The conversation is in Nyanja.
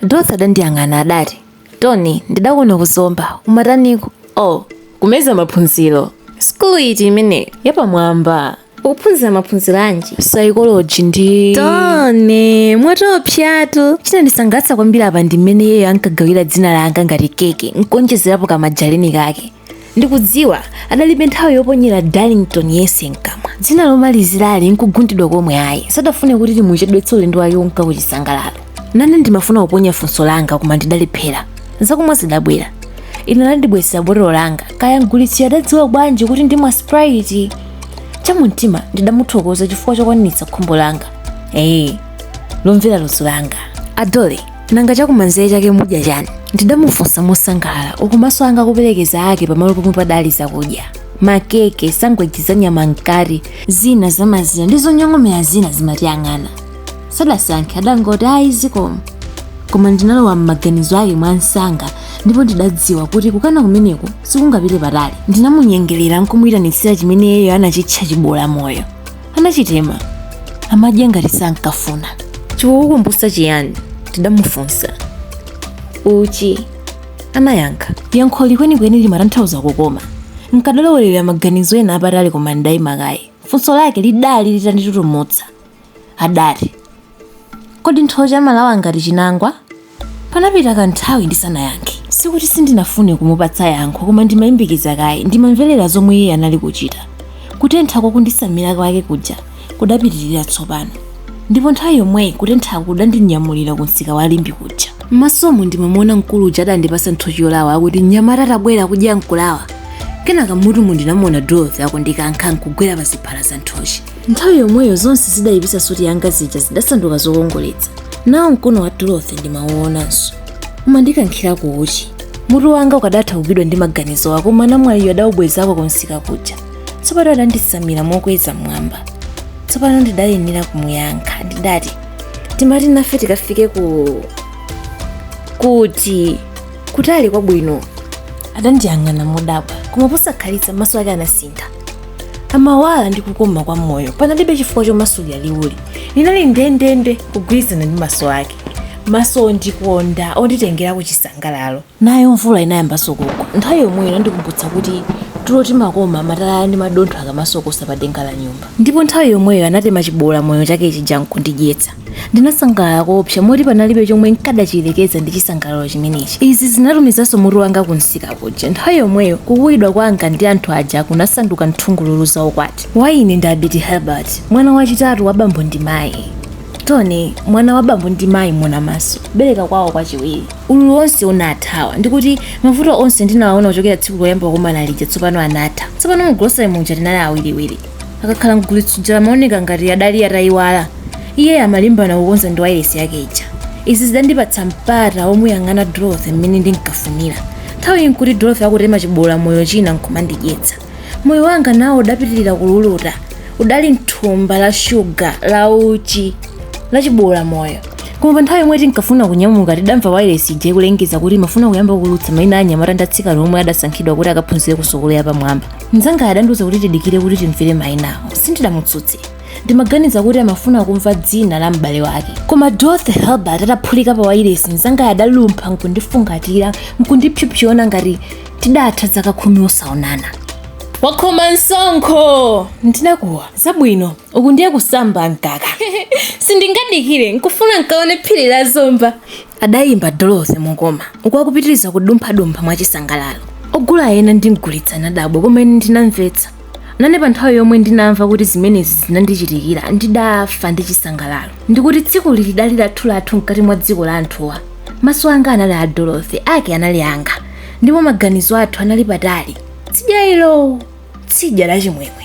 Dorothy adandiyang'ana adati, Tony, ndidakuona ku Zomba. Umataniko? Oh, kumeza maphunziro. Sukulu iti imeneyo? Yapamwamba. Ukuphunzira maphunziro anji? Psychology ndi... Tony, mwaopsatu. Chinandisangalatsa kwambiri apa ndi mmene iyeyo ankagawira dzina langa ngati keke, nkuonjezerapo kamajarini kake. ndikudziwa adalibe nthawi yoponyera darlington yense mkamwa dzina lomalizirali nkugundidwa komwe ayi sadafune kuti timuchedwetse ulendo wake wonka kuchisangalalo nane ndimafuna kuponya funso langa koma ndidalephera zakumwa zidabwera ine anandibwezera botolo langa kaya mgulitsi adadziwa bwanji kuti ndimwa sprite chamumtima ndidamuthokoza chifukwa chokwaniritsa khumbo langa ee lomvera ludzu langa adole nanga chakumanzere chake mudya chani ndidamufunsa mosangalala uku maso anga akuperekeza ake pamalo pomwe padali zakudya makeke sangweji za nyama mkati zina zamazira ndi zonyong'omera zina zimatiyang'ana sadasankhe adangoti ayi zikomo koma ndinalowa m'maganizo ake mwa msanga ndipo ndidadziwa kuti kukana kumeneko sikungapite patali ndinamunyengerera nkumuyitanitsira chimene iyeyo anachitcha chiboola moyo anachitema amadya ngati sankafuna chikukukumbusa chiyani ndidamufunsa uchi anayankha yankholi kwenikweni limatanthauza kukoma nkadalowerera maganizo ena apatali koma ndidayima kaye funso lake lidali litanditutumutsa adati kodi nthochi amalawa ngati chinangwa panapita kanthawi ndisanayankhe sikuti sindinafune kumupatsa yankho koma ndimayimbikiza kaye ndimamverera zomwe iye anali kuchita kutentha kwa kunditsamira kwake kuja kudapitirira tsopano ndipo nthawi yomweyi kutentha kudandinyamulira ku msika wa limbe kuja mmasomo ndimamuona mkulu uja adandipatsa nthochi yolawa akuti mnyamata tabwera kudya nkulawa kenaka mmutumu ndinamuona dorothy akundikankha nkugwera pa ziphala za nthochi nthawi yomweyo zonse zidayipisa suti yanga zija zidasanduka zokongoletsa nawo mkono wa dorothy ndimawuonanso umandikankhira ku uchi mutu wanga ukadathawitsidwa ndi maganizo koma namwaliyo adawubwezako kumsika kuja tsopano adanditsamira mokweza mwamba tsopano ndidayenera kumuyankha ndidati timati nafe tikafike kuti kutali kwabwino adandiyang'ana modabwa koma posakhalitsa maso ake anasintha amawala ndi kukoma kwa moyo panalibe chifukwa chomasulira liwuli linali ndendende kugwirizana ndi maso ake maso ondikonda onditengera ku chisangalalo nayo mvula inayambanso kugwa nthawi yomweyo inandikumbutsa kuti tulo timakoma matalala ndi madontho akamasokosa pa denga la nyumba ndipo nthawi yomweyo anatema chiboola moyo chake chija nkundidyetsa Ndinasangalala koopsa moti panalibe chomwe n'kadachiyerekeza ndi chisangalalo chimenechi. Izi zinatumizanso mutu wanga kumsika kuja. Nthawi yomweyo, kukuwidwa kwanga ndi anthu aja kunasanduka nthungululu za ukwati. Wa ine ndi Abiti Herbert, mwana wachitatu wa bambo ndi mayi. Tony, mwana wa bambo ndi mayi Monamaso, bere lawo kwachiwiri. Ululu wonse unathawa, ndi kuti mavuto onse ndinawaona kuchokera tsiku loyamba kukumana lija tsopano anatha. Tsopano mu grocery muja tinali awiriwiri. akakhala mgulitsi uja amaoneka ngati adali atayiwala iye amalimbana kukonza ndi wailesi yake ija izi zidandipatsa mpata womuyang'ana dorothy mmene ndinkafunira nthawiyi nkuti dorothy akutema chibola moyo china nkumandidyetsa moyo wanga nawo udapitirira kululuta udali mthumba la shuga la uchi la chibola moyo koma pa nthawi yomwe tinkafuna kunyamuka tidamva wailesi ija ikulengeza kuti imafuna kuyamba kuulutsa maina a anyamata ndi atsikana omwe adasankhidwa kuti akaphunzire ku sukulu yapamwamba mnzanga adandiuza kuti tidikire kuti timvere mainawo sindidamutsutse ndimaganiza kuti amafuna kumva dzina la m'bale wake koma dorothy herbert ataphulika pa wailesi mnzanga adalumpha nkundifungatira nkundipsopsona ngati tidatha zaka khumi osaonana wakhoma msonkho ndinakuwa zabwino uku ndiye kusamba mkaka sindingadikire nkufuna nkaone phiri la zomba adayimba Dorothy mokoma uku akupitiriza kudumphadumpha mwachisangalalo. Ogula ena ndi mgulitsi anadabwa koma ine ndinamvetsa. Nane pa nthawi yomwe ndinamva kuti zimenezi zinandichitikira ndidafa ndi chisangalalo ndikuti dziko ili lidali lathu lathu mkati mwa dziko la anthuwa. Maso anga anali a Dorothy, ake anali anga, ndipo maganizo athu anali patali. Tsidya ilo, tsidya la chimwemwe.